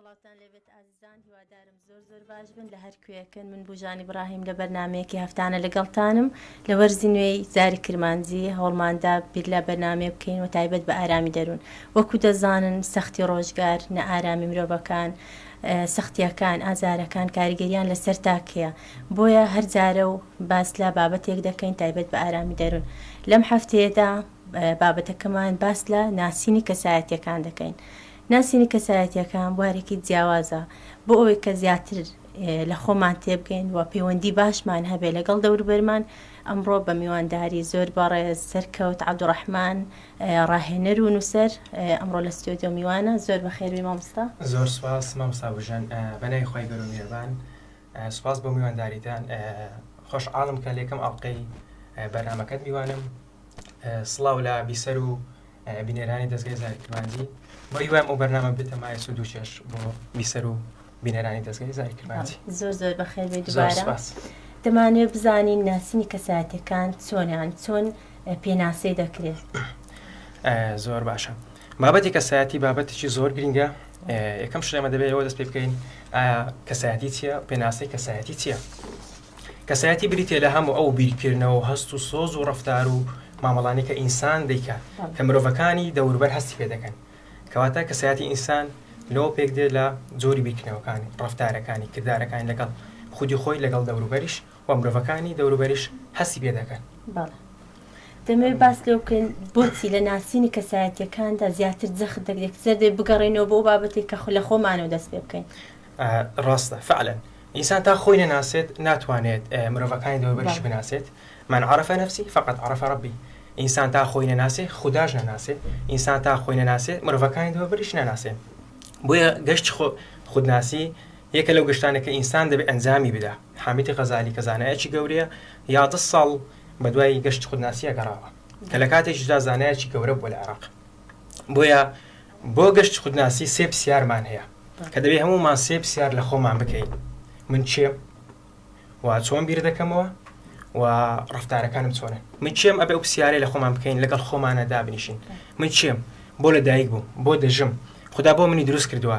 سڵاوتان لێبێت ئازیزان هیوادارم زۆر زۆر باش بن لە هەر کوێەکەن من بژانی براهیم لە بەرنمەیەکی هەفتانە لەگەڵتانم لە وەرزی نوێی زاری کرمانجی هەوڵماندا بیر لە بەرنمێ بکەین و تایبەت بە ئارامی دەروون وەکو دەزانن سەختی ڕۆژگار نە ئارامی مرۆڤەکان سەختیەکان ئازارەکان کاریگەریان لەسەر تاکەیە بۆیە هەر جارە و باس لە بابەتێک دەکەین تایبەت بە ئارامی دەروون لەم هەفتەیەدا بابەتەکەمان باس لە ناسینی کەسایەتەکان دەکەین ناسینی کەسایەتییەکان بوارێکی جیاوازە بۆ ئەوەی کە زیاتر لە خۆمان تێبگەین و پەیوەندی باشمان هەبێ لەگەڵ دەوروبەرمان، ئەمڕۆ بە میوانداری زۆر بەڕێز سەرکەوت عەبدوڕەحمان ڕاهێنەر و نووسەر ئەمڕۆ لە ستۆدیۆ میوانە، زۆر بەخێربێی مامۆستا. زۆر سوپاس مامۆستا بژن بەناوی خوای گەورە و میهرەبان سوپاس بۆ میوانداریتان خۆشحاڵم کە لە یەکەم ئەڵقەی بەرنامەکەت میوانم. سڵاو لە بیسەر و بینەرانی دەزگای زاری کرمانجی بەهیوایم ئەو بەرنامە بێتە مایە سود و چێژ بۆ بیسەر و بینەرانی دەزگای زاری کرمانجی زۆر زۆر بەخێر بێت زۆر دوبارە سپاس دەمانوێت بزانین ناسینی کەسایەتیەکان چۆنیان چۆن اه، پێناسەی دەکرێت ئە، زۆر باشە بابەتی کەسایەتی بابەتێکی زۆر گرنگە ئە، یەکەم شتێمە دەبێت ئەوە دەست پێ بکەین ئایا کەسایەتی چییە پێناسەی کەسایەتی چییە کەسایەتی بریتیە لە هەمو ئەو بیرکردنەوەو هەست و سۆز و ڕەفتار و مامەڵانەی کە ئینسان دەیکات کە مرۆڤەکانی دەوربەر هەستی پێ دەکەن. کەواتە کەسایەتی ئینسان لەوە پێک دێ لە جۆری بیرکردنەوەکانی، ڕەفتارەکانی، کردارەکانی لەگەڵ خودی خۆی لەگەڵ دەوروبەریش و مرۆڤەکانی دەوروبەریش هەستی پێ دەکەن. بەڵێ. دەمەوێ باس لەوە بکەین بۆچی لە ناسینی کەسایەتیەکاندا زیاتر جەخت دەکرێ کە زەردێ بگەڕێینەوە بۆ ئەو بابەتەی کە خۆ لە خۆمانەوە دەست پێ بکەین. ڕاستە فەعلەن ئینسان تا خۆی نەناسێت ناتوانێت مرۆڤەکانی دەوروبەریشی بناسێت، من عرف نفسی فقد عرف ربی، ئینسان تا خۆی نەناسێ خوداش نەناسێ، ئینسان تا خۆی نەناسێ مرۆڤەکانی دەوروبەریش نەناسێ. بۆیە گەشت خودناسی یەکە لەو گەشتانە کە ئینسان دەبێت ئەنجامی بدا. حامیدی غەزالی کە زانایەکی گەورەیە یازدە ساڵ بەدوای گەشتی خودناسییە گەڕاوە کە لە کاتێکیشدا زانایەکی گەورە بووە لە عێراق. بۆیە بۆ گەشت خودناسی سێ پسیارمان هەیە کە دەبێ هەموومان سێ پسیار لە خۆمان بکەین من چێم و چۆن بیر دەکەمەوە و ڕفتارەکانم چۆنە من چێم ئەبێ ئەو پسیارەی لە خۆمان بکەین لەگەڵ خۆمانە دابنیشین من چێم بۆ لە دایک بووم بۆ دەژم خدا بۆ منی دروست کردووە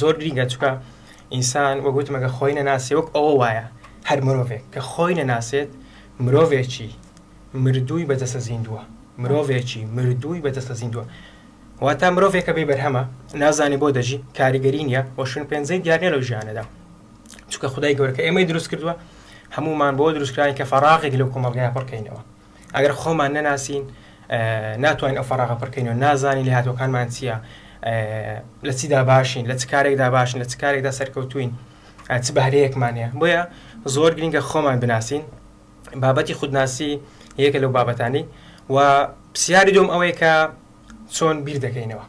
زۆر گرینگە چکە ئینسان وە گوتمەگە خۆی نەناسێ وەک ئەوە وایە هەر مرۆڤێک کە خۆی نەناسێت مرۆڤێکی مردووی بەدەستە زیندووە مرۆڤێکی مردووی بەدەستە زیندووە واتا مرۆڤێکە بێ بەرهەمە نازانێ بۆ دەژی کاریگەری نییە وەشن پێنجەی دیارنێ لەو ژیانەدا چکە خدای گەورکە ئێمەی دروست کردووە هەمومان بۆ دروستکراین کە فەراغێک لەو کۆمەلگای پڕکەینەوە ئەگەر خۆمان نەناسین ناتوانین ئەو فەراغە پڕ کەینەوە، نازانین لێهاتووەکانمان چییە، لە چیدا باشین، لە چ کارێکدا باشین، لە چ کارێکدا سەرکەوتووین، چ بەهرەیەکمان هەیە. بۆیە زۆر گرنگە خۆمان بناسین، بابەتی خودناسی یەکە لەو بابەتانەی و پرسیاری دووەم ئەوەیە کە چۆن بیر دەکەینەوە؟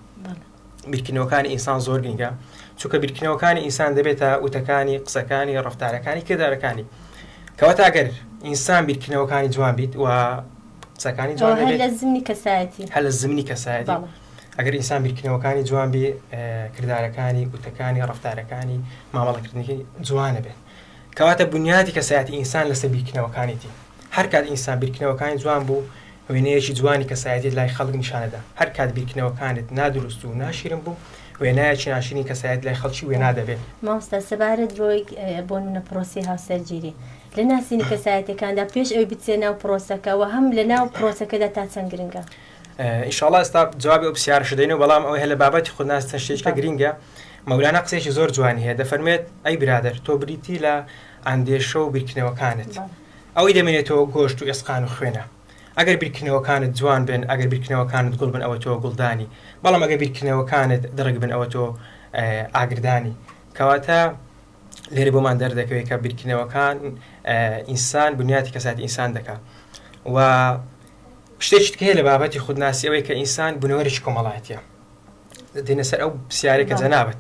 بیرکردنەوەکانی ئینسان زۆر گرنگە، چونکە بیرکردنەوەکانی ئینسان دەبێتە وتەکانی، قسەکانی، ڕەفتارەکانی، کردارەکانی. کەواتە ئەگەر ئینسان بیرکردنەوەکانی جوان بیت و قسەکانی جوان هەر لە زمنی کەسایەتی هەر لە زمنی کەسایەتی ئەگەر ئینسان بیرکردنەوەکانی جوان بێ کردارەکانی، وتەکانی، ڕەفتارەکانی، مامەڵەکردنەکەی جوانە بێت. کەواتە بونیادی کەسایەتی ئینسان لەسەر بیرکردنەوەکانیتی. هەر کات ئینسان بیرکردنەوەکانی جوان بوو، وێنەیەکی جوانی کەسایەتیت لای خەڵک نیشان دەدا. هەر کات بیرکردنەوەکانت نادروست و ناشیرن بوو، وێنایەکی ناشیرنی کەسایەتیت لای خەڵکی وێنا دەبێ. مامۆستا سەبارەت بەوەی بۆنمونە پرۆسەی هاوسەرگیری لە ناسینی کەسایەتیەکاندا پێش ئەوەی بچیە ناو پرۆسەکە وە هەم لە ناو پرۆسەکەدا تا چەند گرنگە؟ ان شاء اللە ئێستا جوابی ئەو پرسیارەشت دەینەوە بەڵام ئەوەی هەر لە بابەتی خودناسی چەند شتێکیکە باشە. گرینگە مەولانا قسەیەکی زۆر جوانی هەیە دەفەرموێت ئەی برادەر تۆ بریتی لە ئەندێشە و بیرکردنەوەکانت بەڵێ ئەوەی دەمێنێتەوە گۆشت و ئێسقان و خوێنە ئەگەر بیرکردنەوەکانت جوان بن ئەگەر بیرکردنەوەکانت گوڵ بن ئەوە تۆ گوڵدانی بەڵام ئەگەر بیرکردنەوەکانت دڕک بن ئەوە تۆ ئێ ئاگردانی کەواتە لێرە بۆمان دەردەکەوێت کە بیرکردنەوەکان ئێ ئینسان بنیاتی کەسایەتی ئینسان دەکا و شتێکی تکە هەیە لە بابەتی خودناسی ئەوەی کە ئینسان بنەوەرێکی کۆمەڵایەتە دێنە سەر ئەو پرسیارێک کە جەنابەت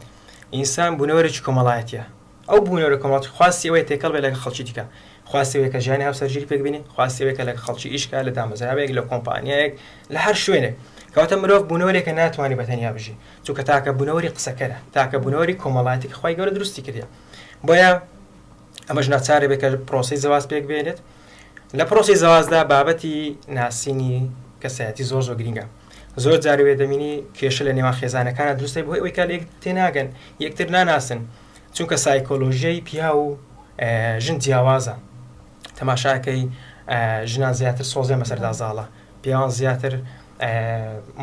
ئینسان بنەوەرێکی کۆمەڵایەتە ئەو بوونەوەرە کۆمەڵات خواستی ئەوەی تێکەڵ بێ لەگە خەڵکی دیکە خواستەوەی کە ژیانی هاوسەرگیری پێکبینی خواستەوەی کە لە خەڵکی ئیشکە لە دامەزراوەیەک لە کۆمپانیایەک لە هەر شوێنێک کەواتە مرۆڤ بوونەوەرێکە ناتوانانی بە تەنیا بژی چونکە تاکە بوونەوەری قسەکەرە تاکە بوونەوەری کۆمەڵایەتی خی گەورە دروستی کردە بۆیە ئەمەش ناچار ئەبێت کە پرۆسەی زەواج پێک بێنێت. لە پرۆسەی زەواجدا بابەتی ناسینی کەسایەتی زۆر زۆر گرینگە. زۆر جار وێ دەبینی کێشە لە نێوان خێزانەکانە دروست دەبێت بەهۆی ئەوەی کە لە یەک تێناگەن، یەکتر ناناسن. چونکە سایکۆلۆژیای پیاو و ژن جیاوازە. تەماشا کەی ژنان زیاتر سۆزیان بەسەردا زاڵە، پیاوان زیاتر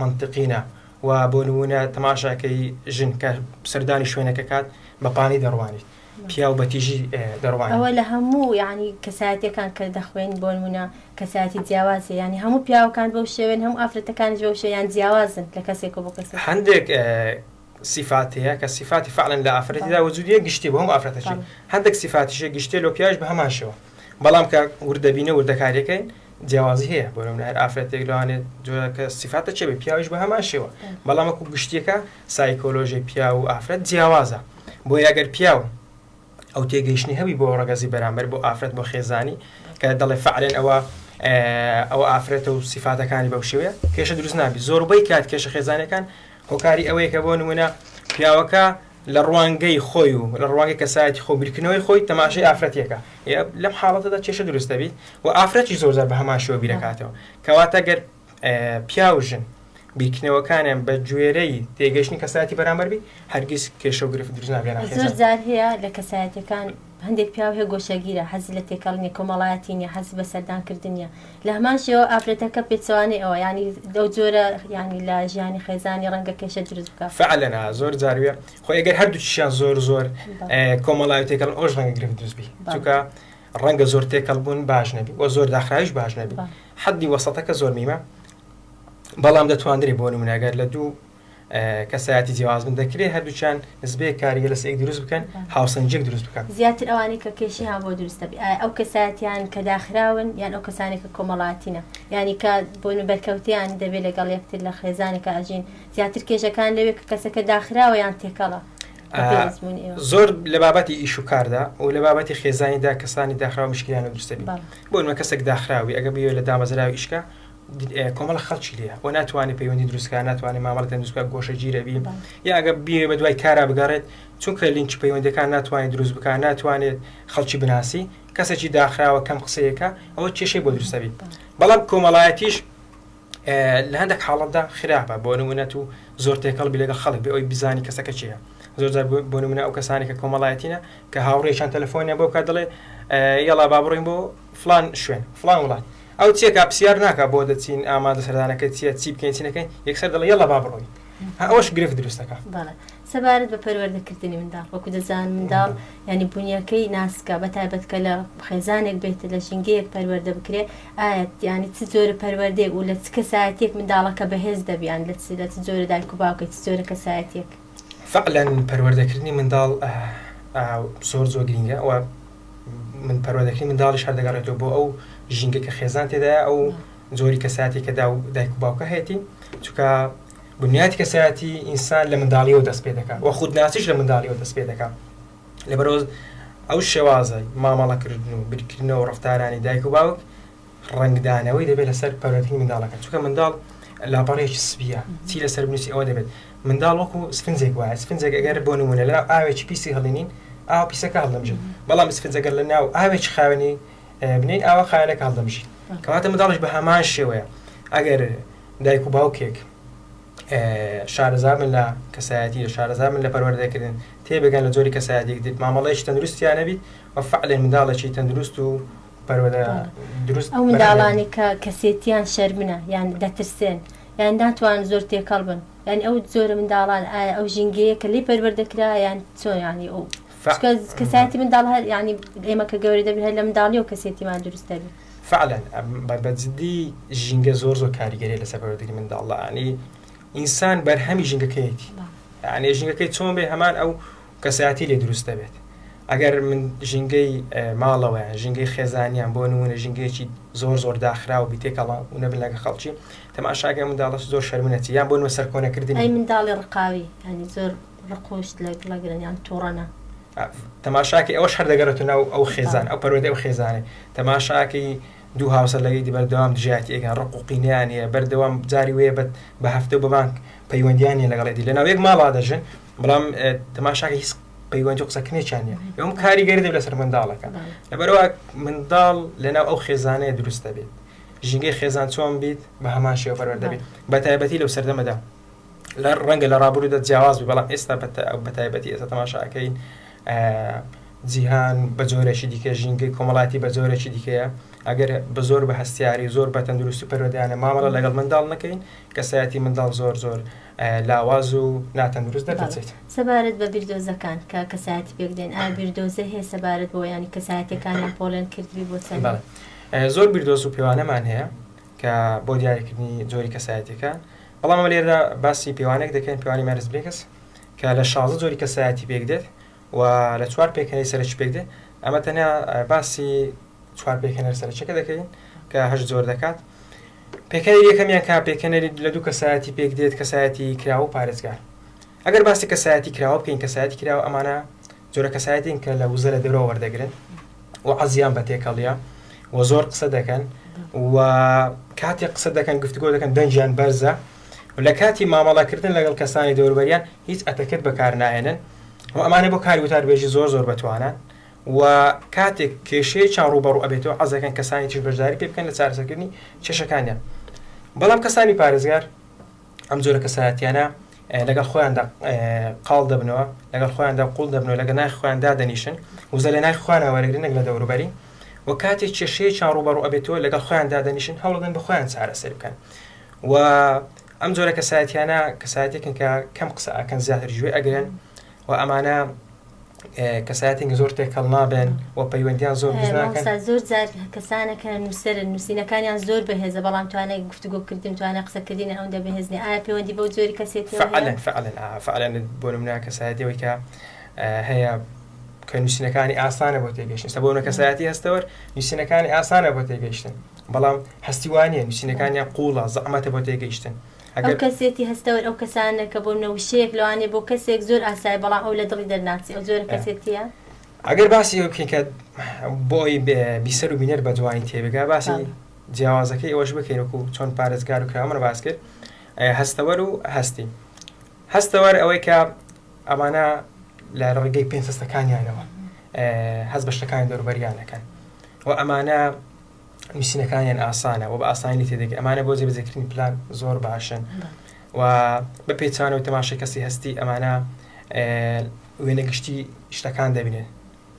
منتقینە و بۆ نموونە تەماشا کەی ژن کە سەردانی شوێنەکە کات بە پانی دەڕوانیت. پیاو بە تیژی دەڕوانن. ئەوە لە هەموو یانی کەسایەتیەکان کە دەخوێنین بۆ نمونە کەسایەتی جیاوازە یانی هەموو پیاوەکان بەو شێوەن هەموو ئافرەتەکانیش بەو شێوەن یان جیاوازن لە کەسێکەوە بۆ کەسێک. هەندێک سیفات هەیە کە سیفاتی فعلەن لە ئافرەتیدا وجودیە گشتی بۆ هەموو ئافرەتەکان هەندێک سیفاتیشە گشتێ لۆ پیاویش بە هەمان شێوە بەڵام کە وردەبینە وردەکاریەکەی جیاوازی هەیە بۆ نمونە هەر ئافرەتێک لەوانێت جۆرەکە سیفاتە چێ بێ پیاویش بە هەمان شێوە بەڵام وەکو گشتیەکە سایکۆلۆژی پیاو و ئافرەت جیاوازە، بۆیە گەر پیاو ئەو تێگەیشتنەی هەبوی بۆ ڕەگەزی بەرامبەر بۆ ئافرەت بۆ خێزانی کە دەڵێ فەعلەن ئەوە ئەوە ئافرەتە و سیفاتەکانی بەو شێوەیە کێشە دروست نابی زۆربەی کات کێشە خێزانەکان هۆکاری ئەوەیە کە بۆ نمونە پیاوەکە لە ڕوانگەی خۆی و لە ڕوانگەی کەسایەتی خۆ بیرکردنەوەی خۆی تەماشای ئافرەتێکە لەم حاڵەتەدا کێشە دروستەبیت و ئافرەتی زۆرزار بە هەمان شێوە بیرەکاتەوە کەواتە گەر پیاو و ژن بیرکردنەوەکانیان بە گوێرەی تێگەشتنی کەسایەتی بەرامبەر بی هەرگیز کێشە و گرفت دروست ناکەن زۆر حەزان. جار هەیە لە کەسایەتیەکان هەندێک پیاو هەیە گۆشەگیرە حەزی لە تێکەڵ نیە کۆمەڵایەتی نیە حەزی بە سەردان کردن نیە لە هەمان شێوە ئافرەتەکە پێچەوانەی ئەوە یانی لەو جۆرە یانی لە ژیانی خێزانی ڕەنگە کێشە دروست بکە فعلەنا زۆر جارویە خۆ ئەگەر هەردووکیشیان زۆر زۆر بەڵێ. اه، کۆمەڵایەتیەکەن ئەوش ڕەنگە گرفت دروست بی بەڵێ. چونکە ڕەنگە زۆر تێکەڵ بوون باش نەبی وە زۆر داخراویش باش نەبی حەدی وەسەتەکە زۆر میمە بەڵام دەتواندرێ بۆ نمونەگەر لە دوو کەسایەتی جیاواز من دەکرێت هەردووچان نزبێ کاریگە لەس ئێک دروست بکەن هاوسەنجێک دروست بکەن زیاتر ئەوانی کە کێشی ها بۆ دروستە بێ ئەو کەساتیان کە داخراون یان ئەو کەسانی کە کۆمەڵاتینە ینی کە بۆ بەرکەوتیان دەبێت لەگەڵ یەکتر لە خێزانەکە ئەژین زیاتر کێشەکان لەوێ کە کەسەکە داخراوە یان تێکەڵە زۆر لە بابەتی ئیش و کاردا و لە بابەتی خێزانیدا کەسانی داخراو مشکیان دروستبی بۆنمە کەسێک داخراوی ئەگە بێ لە دامەزراوی ئیشکە کۆمەڵ خەڵکی لێ و ناتوانانی پەیوەندی دروستکە ناتوانانی مامەڵ دروستکە گۆشە گیرەبی یا ئەگە بێ بە دوای کارا بگەڕێت چونکە لینکی پەیوەندەکان ناتوانانی دروست بکە ناتوانێت خەڵکی بناسی کەسێکی داخراوە کەم قسەیەەکە ئەوە کێشەی بۆ دروستەبی بەڵام کۆمەڵایەتیش لە هەندێک حاڵەتدا خراپە بۆ نموونە تو زۆر تێکەڵ بی لەگەڵ خەڵک بێ ئەوی بزانی کەسەکە کێیە زۆر جار بۆ نموونە ئەو کەسانی کە کۆمەڵایەتینە کە هاوڕێیان تەلەفۆنیان بۆ بکات دەڵێ یەڵا با بڕۆین بۆ فلان شوێن فلان وڵات ئەو چیەکە پرسیار ناکا بۆ دەچین ئامادە سەردانەکە چیە چی بکەین چی نەکەین یەکسەر دەڵێ یەڵا با بڕۆین ئەوەش گرفت دروست دەکا بەڵێ سەبارەت بە پەروەردەکردنی منداڵ، وەکو دەزان منداڵ یانی بونیەکەی ناسکە بە تایبەت کە لە خێزانێک بێت لە ژینگەیەک پەروەردە بکرێ ئایەت یانی چ جۆرە پەروەردەیەک و لە چ کەسایەتیەک منداڵەکە بەهێز دەبی یان لە چ لە چ جۆرە دایک و باوکە چ جۆرە کەسایەتیەک. فەعلا پەروەردەکردنی منداڵ زۆر زۆر گرینگە وە من پەروەردەکردنی منداڵیش هەر دەگەڕێتەوە بۆ ئەو ژینگە کە خێزان تێدایە ئەو جۆری کەسایەتێکە دا و دایک و باوکە هەیەتی چونکە بنیاتی کەسایەتی ئینسان لە منداڵیەوە دەست پێ دەکات و خودناسیش لە منداڵیەوە دەست پێ دەکات لەبەرئەوەز ئەو شێوازەی مامەڵە کردن و بیرکردنەوە و ڕەفتارانی دایک و باوک ڕەنگدانەوەی دەبێت لەسەر پەرۆتنی منداڵەکە چونکە منداڵ لاپەڕێکی سپیە چی لەسەر بنووسی ئەوە دەبێت منداڵ وەکو سفنجێک وایە سفنجێک ئەگەر بۆ نمونە لە ئاوێکی پیسی هەڵێنین ئاو پیسەکە هەڵدەمژێت بەڵام سفنجەگەر لە ناو ئاوێکی خاوێنی بنین ئاوە خاوێنەکە هەڵدەمژی کەواتە منداڵش بە هەمان شێوەیە ئەگەر دایک و باوکێک شارەزابن لە کەسایەتیی، شارەزابن لە پەروەردەکردن، تێبگەن لە جۆری کەسایەتییەک دێت، مامەڵەیەکی تەندروستیان هەبیت و فەعلەن منداڵێکی تەندروست و پەروەردە دروست بەرهەم هێنن. ئەو منداڵانەی کە کەسێتییان شەرمنە یان دەترسێن یان ناتوانن زۆر تێکەڵ بن، یانی ئەو جۆرە منداڵان ئایا ئەو ژینگەیە کە لێی پەروەردە کرا یان چۆن یانی ئەو. فە. چکە کەسایەتی منداڵ هەر یانی ئێمە کە گەورە دەبین هەر لە منداڵیەوە کەسێتیمان دروست دەبی. فعلا بە بە جدی ژینگە زۆر زۆر کاریگەری لەسەر پەروەردەی منداڵ دە ئەنی ئینسان بەرهەمی ژینگەکەیەتی ئەنێ ژینگەکەی چۆن بێ هەمان ئەو کەسایەتی لێ دروست دەبێت ئەگەر من ژینگەی ماڵەوەیان ژینگەی خێزانیان بۆ نمونە ژینگەیەکی زۆر زۆر داخرا و بیتێکەڵا و نەبن لەگە خەڵکی تەماشاگە منداڵش زۆر شەرمنەچی یان بۆ نوە سەرکۆنەکردنی منداڵی ڕقاوی زۆر ڕقۆشت لە گڵەگرن یان توڕەنە. تەماشاکەی ئەوەش هەر دەگەڕێتە ناو ئەو خێزان ئەو پەروەردەی ئەو خێزانێ تەماشاکەی دوو هاوسەر لەگەیدی بەردەوام دژایەتی ئێکن ڕق و قینیان هەیە بەردەوام جاری وەیە بە بە هەفتە و بە مانگ پەیوەندیان نیە لەگەڵ ئێدی لەناو یەک ماڵا دەژن بەڵام تەماشاکە هیچ پەیوەندی و قسەکردنێکیان نیە ئەوم کاریگەری دەبێت لەسەر منداڵەکە لەبەرەوە منداڵ لەناو ئەو خێزانەیە دروست دەبێت ژینگەی خێزان چۆن بیت بە هەمان شێوە پەروەردە بێت بە تایبەتی لەو سەردەمەدا ڕەنگە لە ڕابورودا جیاواز بی بەڵام ئێستا بەتایبەتی ئێستا تەماشا ئەکەین جیهان بە جۆرێکی دیکە ژینگەی کۆمەڵاتی بە جۆرێکی دیکەیە ئەگەر بە زۆر بە هەستیاری زۆر بە تەندروستی پەروەدانە مامەڵە لەگەڵ منداڵ نەکەین کەسایەتی منداڵ زۆر زۆر لاواز و ناتەندروست دەبێت سەبارەت بە بیردۆزەکان کە کەسایەتی پێکدێن ئا بیردۆزە هەیە سەبارەت بۆ ینی کەسایەتەکانیان پۆلێن کردوی بۆ چەند زۆر بیردۆز و پێوانەمان هەیە کە بۆ دیاریکردنی جۆری کەسایەتیەکە بەڵام ئەمە لێرەدا باسی پێوانێک دەکەین پێوانی مایرس برێگس کە لە شازە جۆری کەسایەتی پێک دێت و لە چوار پێکەنەی سەرەکی پێک دێت ئەمە تەنیا باسی چوار پێکەنەر سەرەکیەکە دەکەین کە هەش جۆر دەکات پێکەنەری یەکەمیان کا پێکەنەری لە دوو کەسایەتی پێک دێت کەسایەتی کراوە و پارێزگار ئەگەر باسی کەسایەتی کراوە بکەین کەسایەتی کراوە ئەمانە جۆرە کەسایەتین کە لە وزە لە دەرەوە وەردەگرن و عەزیان بە تێکەڵیە و زۆر قسە دەکەن و کاتێک قسە دەکەن گفتگۆ دەکەن دەنجیان بەرزە و لە کاتی مامەڵەکردن لەگەڵ کەسانی دەوروبەریان هیچ ئەتەکت بەکار نایەنن و ئەمانە بۆ کاری وتاربێژی زۆر زۆر بەتوانان و کاتێک کێشەیە چاڕ و بەڕوو ئەبێتەوە عزەکەن کەسانی تیش بەشداری پێ بکەن لە چارەسەکردنی کێشەکانیان بەڵام کەسانی پارێزگار ئەم جۆرە کەسایەتیانە لەگەڵ خۆیاندا قاڵ دەبنەوە، لەگەڵ خۆیاندا قوڵ دەبنەوە، لەگەڵ ناخی خۆیان دادەنیشن، وزە لە ناخی خۆیانەوە وەرەگرن نەک لە دەوروبەری و کاتێ کێشەیەکیان ڕووبەڕوو ئەبێتەوە لەگەڵ خۆیان دادەنیشن هەوڵەدەن بە خۆیان چارەسەر بکەن و ئەم جۆرە کەسایەتیانە کەسایەتێکن کە کەم قسە ئەکەن زیاتر گوێ ئەگرن و ئەمانە کەسایەتێکی زۆر تێکەڵ نابێن و پەیوەندیان زۆر دروست ناکەن. مامۆستا زۆر جار کەسانە کە نووسەرن نووسینەکانیان زۆر بەهێزە بەڵام توانای گفتوگۆکردن توانای قسەکردنی ئەوەندە بەهێز نییە ئایا پەیوەندی بەو جۆری کەسێتیەوە هەیە؟ فەعەلەن فەعەلەن ئا فەعەلەن بۆ نمونە کەسایەتی ئەوەی کە هەیە کە نووسینەکانی ئاسانە بۆ تێگەیشتن سە بۆنە کەسایەتی هەستەوەر نووسینەکانی ئاسانە بۆ تێگەیشتن بەڵام هەستی وانە نووسینەکانیان قوڵە زەحمەتە بۆ تێگەیشتن ئەو کەسێتی هەستەوەر ئەو کەسانە کە بۆ منە وشەیەک لەوانەیە بۆ کەسێک زۆر ئاسایە بەڵام ئەو لە دڵی دەرناچێ ئەو جۆرە کەسێتییە. ئەگەر باسی ئەوە بکەین کە بۆ ئەوی بیسەر و بینەر بە جوانی تێ بگا باسی جیاوازەکەی ئەوەش بکەین وەکو چۆن پارێزگار و کرامەر باس کرد هەستەوەر و هەستی هەستەوەر ئەوەی کە ئەمانە لە ڕێگەی پێنج هەستەکانیانەوە هەست بە شتەکانی دەوروبەریانەکەن و ئەمانە نوسینەکانیان ئاسانە و بە ئاسانی لێ تێدەگەی ئەمانە بۆ جێبەجێکردنی پلان زۆر باشن و بە پێچانەوەی تەماشای کەسی هەستی ئەمانە وێنە گشتی شتەکان دەبینێن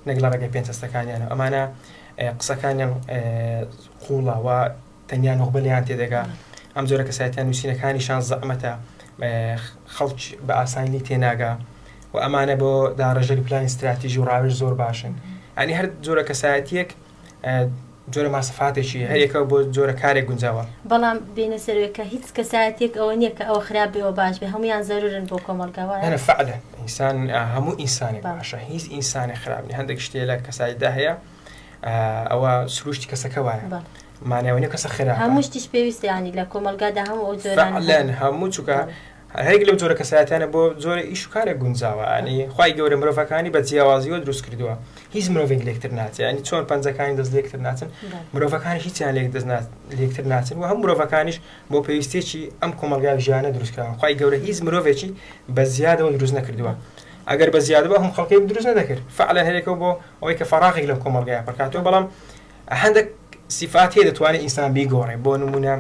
نەک لە ڕێگەی پێنج هەستەکانیان و ئەمانە قسەکانیان قوڵە و تەنیا نوخبە لێیان تێدەگا ئەم جۆرە کەسایەتیان نووسینەکانیشان زەعمەتە خەڵک بە ئاسانی تێناگا و ئەمانە بۆ داڕێژەری پلانی استراتیژی و ڕاوێژ زۆر باشن ئەنی هەر جۆرە کەسایەتیەک جۆرە ماسفاتێکی هەر یەکە بۆ جۆرە کارێک گونجاوە. بەڵام بێنە سەروێ کە هیچ کەسایەتیەک ئەوە نییە کە ئەوە خراپ بێ ئەوە باش بێ هەموویان زەرورن بۆ کۆمەڵگا وایە؟ نەنە فعلا ئینسان هەموو ئینسانێک بەڵێ. باشە هیچ ئینسانێک خراپ نییە هەندێک شتێ لە کەسایەتدا هەیە ئەوە سروشتی کەسەکە وایە بەڵێ. مانای ئەوە نییە کەسە خراپە. هەموو شتیش پێویستە یانی لە کۆمەڵگادا هەموو ئەو جۆرانە هەن. فعلا هەموو چوکە بەڵێ. هەریەک لەو جۆرە کەسایەتیانە بۆ جۆرە ئیش و کارێک گونجاوە یانی خوای گەورە مرۆڤەکانی بە جیاوازیوە دروست کردووە هیچ مرۆڤێک لێکتر ناچێ یانی چۆن پەنجەکانی دەست لێکتر ناچن مرۆڤەکانی هیچیان لێک دەست لێکتر ناچن و هەم مرۆڤەکانیش بۆ پێویستێکی ئەم کۆمەلگای ژیانە دروستکراوە خوای گەورە هیچ مرۆڤێکی بە زیادەوە دروست نەکردووە ئەگەر بە زیادەوە هەم خەڵکی دروست نەدەکرد فعلا هەرێکەوە بۆ ئەوەی کە فەراغێک لەم کۆمەلگای پڕکاتەوە بەڵام هەندێک سیفات هەیە دەتوانێت ئینسان بیگۆڕێ بۆ نمونە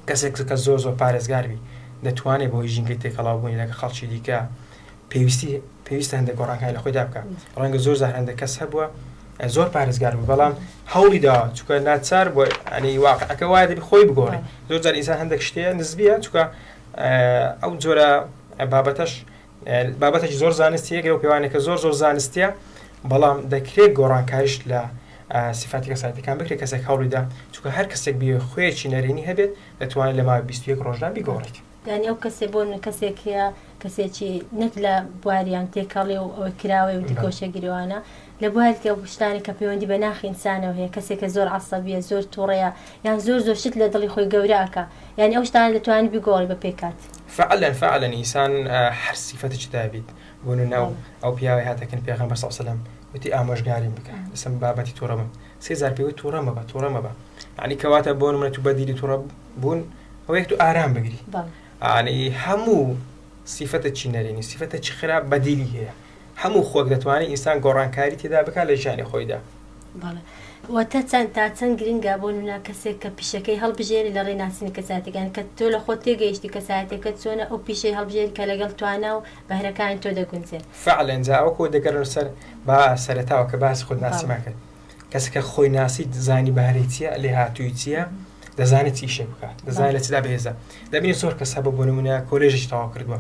کەسێک کە زۆر زۆر پارێزگار بی دەتوانێت بەهۆی ژینگەی تێکەڵاو بوونی لەگە خەڵکی دیکە پێویستی پێویستە هەندێک گۆڕانکاری لە خۆیدا بکە ڕەنگە زۆر زار هەندێک کەس هەبووە زۆر پارێزگار بوو بەڵام هەوڵی داوە چکە ناچار بۆ ئەنی واقعەکە وایە دەبی خۆی بگۆڕی زۆر جار ئینسان هەندێک شتەیە نزبیە چکە ئەو جۆرە بابەتەش بابەتێکی زۆر زانستیە گرەو پێوانەکە زۆر زۆر زانستیە بەڵام دەکرێت گۆڕانکاریش لە سیفاتی کەسایەتەکان بکرێت کەسێک هەوڵیدا چونکە هەر کەسێک بێ خوێکی نەرێنی هەبێت دەتوانێت لە ماوەی 21 ڕۆژدا بیگۆڕێت یعنی ئەو کەسێ بۆ کەسێک هەیە کەسێکی نەک لە بواریان تێکەڵێ و ئەوەی کراوەی و بله. دیکۆشەگیرەوانە لە بواری تر ئەو شتانەی کە پەیوەندی بە ناخی ئینسانەوە هەیە کەسێک کە زۆر عەسەبیە زۆر توڕەیە یان زۆر زۆر شت لە دڵی خۆی گەورە ئەکا یانی ئەو شتانە دەتوانی بیگۆڕی بە پێکات. فعلا فعلا ئینسان هەر سیفەتێکی دابیت بۆ نونە ئەو ئەو پیاوەی هاتە کن پێغەمبەر صلی اللە وسلم وتی ئامۆژگاریم بکە لەسەم بابەتی توڕە بم سێ جار پێ وت توڕە مەبە توڕە مەبە یانی کەواتە بۆ نمونە تو بەدیلی توڕە بوون ئەوەیەک تو ئارام بگری بەڵێ یانی هەموو سیفەتە چی نەرێنی سیفەتە چی خراپ بەدیلی هەیە هەموو خۆک دەتوانێت ئینسان گۆڕانکاری تێدا بکات لە ژیانی خۆیدا. بەڵێ. واتە چەند تا چەند گرنگە بۆ نمونە کەسێک کە پیشەکەی هەڵبژێری لە ڕێی ناسینی کەسایەتەکە یان کە تۆ لە خۆت تێگەیشتی کەسایەتەکەت چۆنە ئەو پیشەی هەڵبژێری کە لەگەڵ توانا و بەهرەکانی تۆ دەگونجێت. فەعلەن جا ئەوە کۆ دەگەڕێنە سەر با سەرەتاوە کە باسی خودناسیمان کرد. کەسەکە خۆی ناسی دزانی بەهرەی چییە لێ هاتووی چییە دەزانێت چی شێ بکات دەزانێت لە چدا بێزە دەبێت زۆر کەس هەبە بۆ نمونە کۆلێژی تەوا کردووە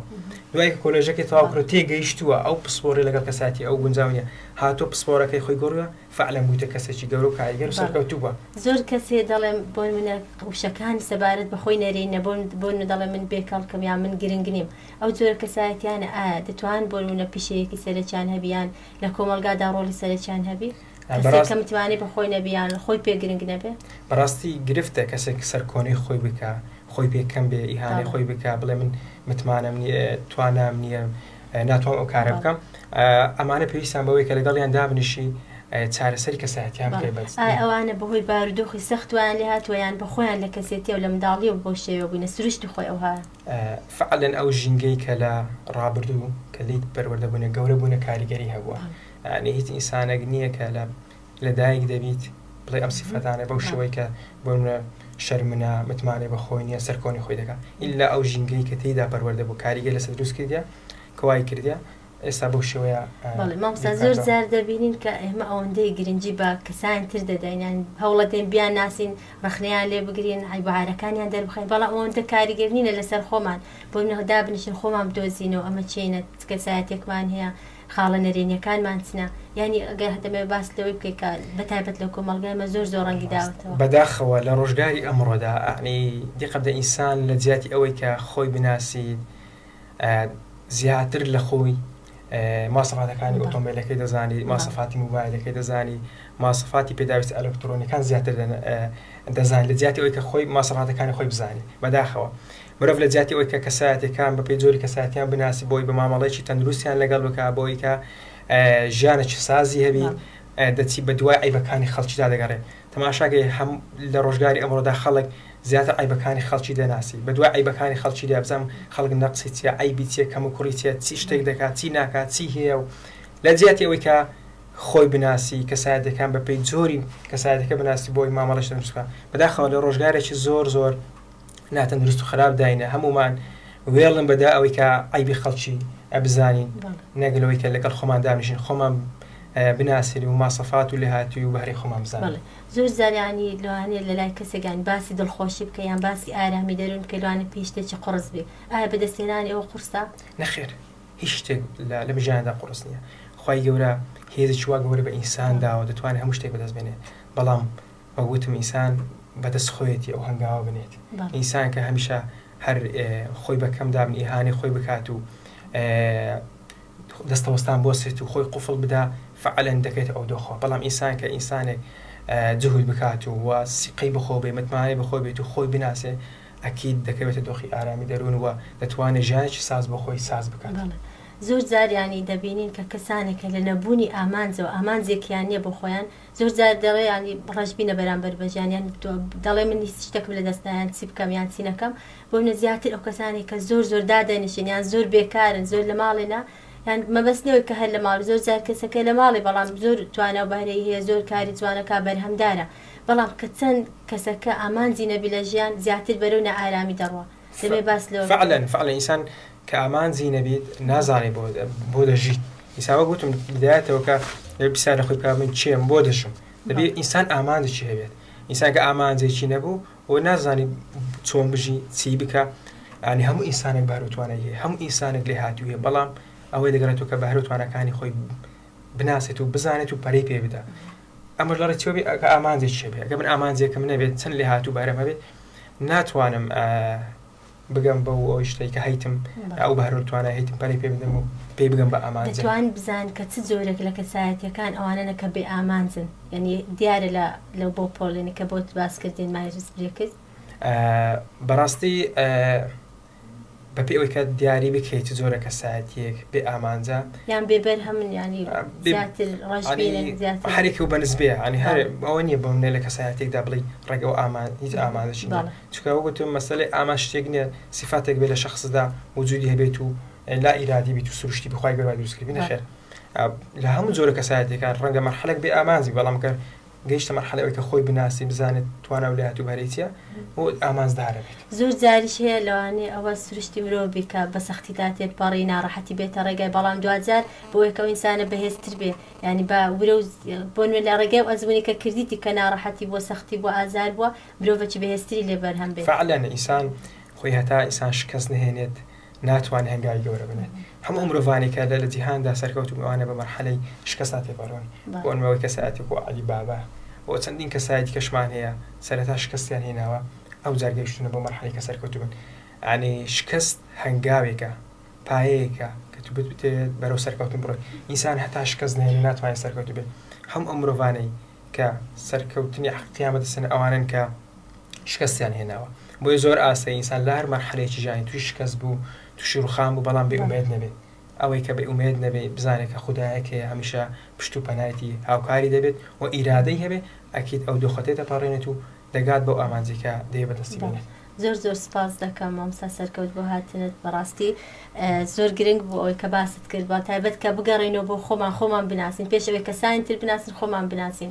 دوای کۆلێژەکەی تەواکرۆ تێگەیشتووە ئەو پسپۆری لەگەڵ کەساتی ئەو گونجاونیە هاتۆ پسپۆرەکەی خۆی گۆڕە فعلەن بوویتە کەسێکی گەورە و کاریگەر سەرکەوتووە زۆر کەسێ دەڵێم بۆ منە قوشەکانی سەبارەت بەخۆی نەرێ نەبوون بۆ دەڵێ من بێکەڵکم یا من گرنگ نیم ئەو جۆرە کەسایەتیانە ئایا دەتوان بۆ منە پیشەیەکی سەرەکیان هەبیان لە کۆمەلگادا ڕۆلی سەرەکیان هەبی کەسێک کە متمانەی بە خۆی نەبی یان خۆی پێ گرنگ نەبێ بەڕاستی گرفتە کەسێک سەر کۆنەی خۆی بکا خۆی پێ کەم بێ ئیهانەی خۆی بکا بڵێ من متمانەم نیە توانام نیە ناتوان ئەو کارە بکەم ئەمانە پێویستان بەوەی کە لەگەڵیان دابنیشی چارەسەری کەساتیان بکە بەس ئەوانە بەهۆی بارودۆخی سەختوان لێ هاتووە یان بە خۆیان لە کەسێتی و لە منداڵی و بۆ شێوە بووینە سروشتی خۆی ئەوها فەعلەن ئەو ژینگەی کە لە ڕابردوو کە لیت پەروەردە بوونە گەورە بوونە کاریگەری هەبووە یعنی هیچ ئینسانێک نییە کە لە لە دایک دەبیت بڵێ ئەم سیفەتانە بەو شێوەی کە بۆنە شەرمنە متمانەی بە خۆی نییە سەرکۆنی خۆی دەکات ئیلا ئەو ژینگەی کە تێیدا پەروەردە بوو کاریگە لەسەر دروست کردە کەوای کردە ئێستا بەو شێوەیە بەڵێ مامۆستا زۆر بیرکاتەوە. جار دەبینین کە ئێمە ئەوەندەی گرنگی بە کەسانی تر دەدەین یان هەوڵەدەین بیانناسین ڕەخنەیان لێ بگرین عیب و عارەکانیان دەربخەین بەڵام ئەوەندە کاریگەر نینە لەسەر خۆمان بۆ منەوە دابنیشین خۆمان بدۆزینەوە ئەمە چینە چ کەسایەتێکمان هەیە خاڵە نەرێنیەکانمان چنە یانی ئەگەر هەتەمەوێ باس لەوەی بکەی کە بە تایبەت لە کۆمەڵگای مە زۆر زۆر ڕەنگی داوەتەوە بەداخەوە لە ڕۆژگاری ئەمڕۆدا ئەعنی دیقە بدە ئینسان لە جیاتی ئەوەی کە خۆی بناسیت زیاتر لە خۆی ماسەفاتەکانی ئۆتۆمبیلەکەی دەزانی ماسەفاتی موبایلەکەی دەزانی ماسەفاتی پێداویست ئەلکترۆنیەکان زیاتر دەزانانی لە جیاتی ئەوی کە خۆی ماسەفاتەکانی خۆی بزانانی بەداخەوە مرۆڤ لە جیاتی ئەوی کە کەسایەتەکان بە پێی جۆری کەساتیان بناسی بۆی بە مامەڵێکی تەندروستیان لەگەڵ بک بۆی کە ژیانە چ سازی هەبی دەچی بە دوای ئەیبەکانی خەڵکیدا دەگەڕێ تەماشاکە هەم لە ڕۆژگاری ئەمڕۆدا خەڵک زیاتر عەیبەکانی خەڵکی دەناسی بە دوای عەیبەکانی خەڵکی دێ بزانم خەڵک نەقسی چیە عەیبی چیە کەموکوڕی چیە چی شتێک دەکات چی ناکات چی هەیە و لە جیاتی ئەوەی کە خۆی بناسی کەسایەتیەکان بە پێی جۆری کەسایەتەکە بناسی بۆی مامەڵەی شەرمسکە بەداخەوە لە ڕۆژگارێکی زۆر زۆر ناتەندروست و خراپ داینە هەموومان وێڵن بەدا ئەوەی کە عیبی خەڵکی ئەبزانین نەگەل ئەوەی کە لەگەڵ خۆمان دامژین خۆمان بناسین و ماسەفات و لێهاتوی و بەهرەی خۆمان بزانین زۆر زاریانی لەوانێ لە لای کەسێکگان باسی دڵخۆشی بکە یان باسی ئارامی دەرون کە لەوانە پێشتێکی قڕس بێ ئایا بەدەستێنانی ئەوە قورسە نەخێر هیچ شتێک لە بژیاندا قڕس نییە خی گەورە هێزی چوا گەورە بە ئینسان داوە دەتوانێت هەموو شتێک بەدەست بێنێ بەڵام وەک وتم ئینسان بە دەست خۆیەتی ئەو هەنگاوە بنێت بەڵێ. ئینسان کە هەمیشە هەر ئێ، خۆی بە کەم دابنی ئیهانەی خۆی بکات و ئێ، دەستەوەستان بوەستێت و خۆی قوفڵ بدا فەعلەن دەکەێتە ئەو دۆخەوە بەڵام ئینسان کە ئینسانێک ئێ، جوهد بکات و وە سیقەی بە خۆ بێ متمانەی بە خۆی بێت و خۆی بناسێ ئەکید دەکەوێتە دۆخی ئارامی دەروون وە دەتوانێ ژیانێکی ساز بۆ خۆی ساز بکات. بەڵێ. زۆر جار یانی دەبینین کە کەسانێک کە لە نەبوونی ئامانجەوە، ئامانجێکیان نیە بۆ خۆیان، زۆر جار دەڵێ یانی ڕەشبینە بەرامبەر بە ژیان یان تۆ دەڵێ من هیچ شتێکم لەدەست نا یان چی بکەم یان چی نەکەم بۆ منە زیاتر ئەو کەسانێک کە زۆر زۆر دادەنیشن یان زۆر بێکارن زۆر لە ماڵێنا یان مەبەست نەوەی کە هەر لە ماڵ زۆر جار کەسەکە لە ماڵێ بەڵام زۆر توانا و بەهرەی هەیە زۆر کاری جوانەکە بەرهەمدارە بەڵام کە چەند کەسەکە ئامانجی نەبی لە ژیان زیاتر بەرەو نائارامی دەڕوا دەبێ باس لەوە بکرێت. فعلەن فعلەن ئینسان کە ئامانجی نەبیت نازانێ بۆ بۆ دەژیت ئینسان وەک وتم بدایەتەوە کە دەبێ پرسیار لە خۆی بکات من کێم بۆ دەژم دەبێ بەڵێ. ئینسان ئامانجێکی هەبێت ئینسان کە ئامانجێکی نەبوو و نازانی چۆن بژی چی بکە ینی هەموو ئینسانێک بەهرە و توانای هەیە هەموو ئینسانێک لێ هاتوو هەیە بەڵام ئەوەی دەگەڕێتەوە کە بەهرە و تواناکانی خۆی بناسێت و بزانێت و پەرەی پێ بدا ئەمەش لە ڕێچکەوە بێت کە ئامانجێکیش هەبێت، ئەگەر من ئامانجێکم نەبێت، چەند لێهاتوو بەهرەم هەبێت، ناتوانم بگەم بەو ئەو شتەی کە هەیتم، ئەو بەهرە و توانای هەیتم پەرەی پێ بدەم و پێی بگەم بە ئامانج. دەتوان بزان کە چ جۆرێک لە کەسایەتییەکان ئەوانەنە کە بێ ئامانجن، یانی دیارە لە لەو بۆ پۆڵێنی کە بۆت باس کردین مایرز برێکس. بەڕاستی بەپێی ئەوەی کە دیاری بکرێی چ جۆرە کەسایەتیەک بێ ئامانجە یان بێ بەرهەمن یانی زیاتر ڕەشبینن زیاتر ئەنی هەرێکەو بە نسبەیە ئەنی هەر بەڵێ ئەوە نیە بۆ منێ لە کەسایەتێکدا بڵێی ڕێگە و ئامان هیچ ئامانجێکی نیە بەڵێ چونکە وەک گوتم مەسەلەی ئامان شتێک نیە سیفاتێک بێ لە شەخسدا وجودی هەبێت و لا ئیرادی بیت و سروشتی بی خوای گەورە دروست کردبی بەڵێ نەخێر لە هەموو جۆرە کەسایەتیەکان ڕەنگە مەرحەلەک بێ ئامانج بی بەڵام گەر گەیشتە مەرحەلەی ئەوەی کە خۆی بناسی، بزانێت توانا و لایەت و بەرەی چییە و ئامانجدارە بێت. زۆر جاریش هەیە لەوانەیە ئەوە سروشتی مرۆڤ بی کە بە سەختیدا تێپەڕی، ناڕەحەتی بێتە ڕێگای، بەڵام دواجار بەوەی کە ئەو ئینسانە بەهێزتر بێ، یانی بە ورە و بۆ نموونە لە ڕێگای ئەو ئەزموونەی کە کردیتی کە ناڕەحەتی بووە، سەختی بووە، ئازار بووە، مرۆڤێکی بەهێزتری لێ بەرهەم بێت. فەعلەن ئینسان خۆی هەتا ئینسان شکەست نەهێنێت ناتوان هەنگاوی گەورە بنێت هەموو ئەو مرۆڤانەی کە لە لە جیهاندا سەرکەوتوون ئەوانە بە مەرحەلەی شکستا تێپەرۆن بۆ بەڵێ ئەنمەوەی کەسایەتی وەکوو عەلی بابا و چەندین کەسای دیکەشمان هەیە سەرەتا شکستیان هێناوە ئەوجار گەیشتوونە بەو مەرحەلەی کە سەرکەوتوو بن یانی شکست هەنگاوێکە پایەیەکە کە تو بتبتێت بەرەو سەرکەوتن بڕۆی ئینسان هەتا شکست نەهێنێ ناتوانێت سەرکەوتوو بێت هەموو ئەو مرۆڤانەی کە سەرکەوتنی حەقیقیان بەدەست هێنا ئەوانەن کە شکستیان هێناوە بۆیە زۆر ئاسایی ئینسان لە هەر مەرحەلەیەکی ژیانی تووشی شکست بوو تووشی ڕوخان بوو بەڵام بێ ئومێد نەبێت ئەوەی کە بێ ئومێد نەبێت بزانێت کە خودایەک هەیە هەمیشە پشت و پەنایەتی هاوکاری دەبێت و ئیرادەی هەبێت ئەکید ئەو دۆخە تێدەپەڕێنێت و دەگات بەو ئامانجەی کە دەیەوێت بەدەستی بێنێت بەڵێ زۆر زۆر سپاس دەکەم مامۆستا سەرکەوت بۆ هاتنت بەڕاستی اه، زۆر گرنگ بوو ئەوەی کە باست کرد بە تایبەت کە بگەڕێینەوە بۆ خۆمان خۆمان بناسین پێش ئەوەی کەسانی تر بناسین خۆمان بناسین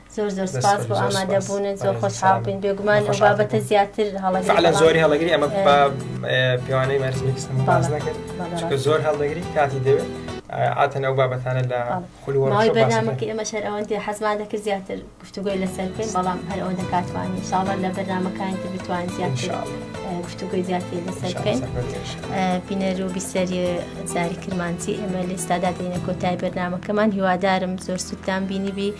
زۆر زۆر سپاس بۆ ئامادە بوونت زۆر خۆشحاڵ بین بێگومان ئەو بابەتە زیاتر هەڵە زۆری هەڵگری ئەمە پێوانەی مەرزمیکسکرد زۆر هەڵدەگری کاتی دەوێت ئاتەن ئەو بابەتانە لە خولوەڕای بەنامەکە ئێمە شەر ئەوەندی حەزمان دەکرد زیاتر گفتوگوی لەسەر بکەین بەڵام هەر ئەوە دەکاتوانانی ساڵە لە بەرنمەکانی تر بتوان زیاتر گفتوگوی زیاتر لەسەر بکەین بینەر و بیسەری زاری کرمانسی ئێمە لێستادا دێنە کۆتای بەرنمەکەمان هیوادارم زۆر سوودتان بینی بی.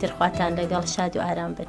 تر خواتان لەگەڵ شاد و ئارام بن.